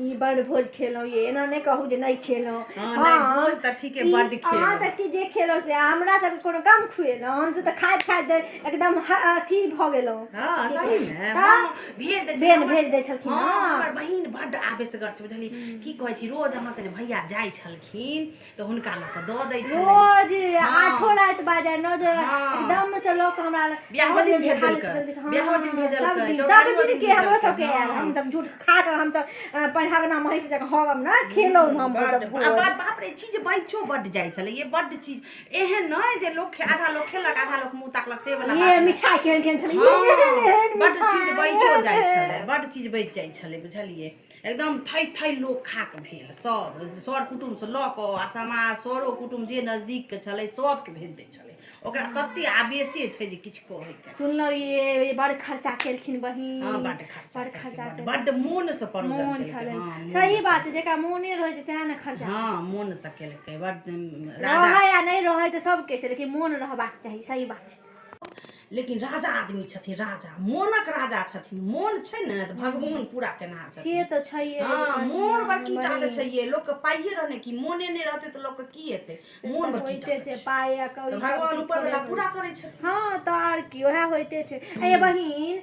ई बड़ भोज खेलहुँ ये एना नहि कहू जे नहि खेलहुँ हँ, नहि, हम- भोज तऽ ठीके ई- बड्ड खेलहुँ। अहाँ तऽ की जे खेलहुँ से हमरा सबके कोनो कम खुएलहुँ हमसभ तऽ खाइत खाइत एकदम ह- अथी भऽ गेलहुँ हँ सही ने तऽ हँ भेज दै बेन छलखिन। भेज दै छलखिन हँ हँ हमर बहिन बड्ड आवेशगर छै बुझलियै की कहै छी रोज अहाँके जे भैया जाइ छलखिन तऽ हुनका लऽ कऽ दऽ दै छलै रोज आठो राति बाजे नओ जे एकदम से लोक हमरा लग बियाहो दिन भेज देलकै बियाहो दिन भेजलकै चौठारियो दिन के हमरो सब के आयल हम सब झूठ खा के हम सब पढ़ागना महिष जक होगम ना खेलो हम सब बाप रे चीज बच्चो बड जाय छले ये बड चीज एहन नै जे लोक आधा लोक खेलक आधा लोक मुंह ताकलक से वाला ये मिठाई केहन केहन छले बड चीज बच्चो जाय छले बड चीज बच जाय छले बुझलिए एकदम थै थै लोक खाक भेल सब सर कुटुम्बसँ लऽ कऽ आ समाज सरो कुटुम्ब जे नजदीकके छलै सबके भेज दै छलै ओकरा तते आवेशे छै जे किछु कहैके सुनलहुँ ये बड़ खर्चा केलखिन बहिन हँ बड खर्चा बड़ खर्चा केलखिन, केलखिन। बड मोनसँ परोजन मोन केलकै, छलै हँ, मोन- सही बात छै जेकरा मोने रहै छै सएह ने खर्चा हँ मोनसँ केलकै बड राजा रहै आ नहि रहै तऽ सबके छै लेकिन मोन रहबाक चाही सही बात छै लेकिन राजा आदमी छथिन राजा मोनक राजा छथिन मोन छै ने तऽ भगवान पूरा केनहार से छथिन तऽ छैहे हाँ बहिन, मोन बड़की टा के बहिन। छैहे लोक के पाइये रहने की मोने नहि रहते तऽ लोक के की हेतै से मोन तऽ बड़की टा होइते के छै छै पाइ आ कौड़ी हाँ, तऽ भगवान सब ऊपर वाला थोड़े- पूरा करै छथिन हाँ तऽ आर की ओएह होइते छै ए बहिन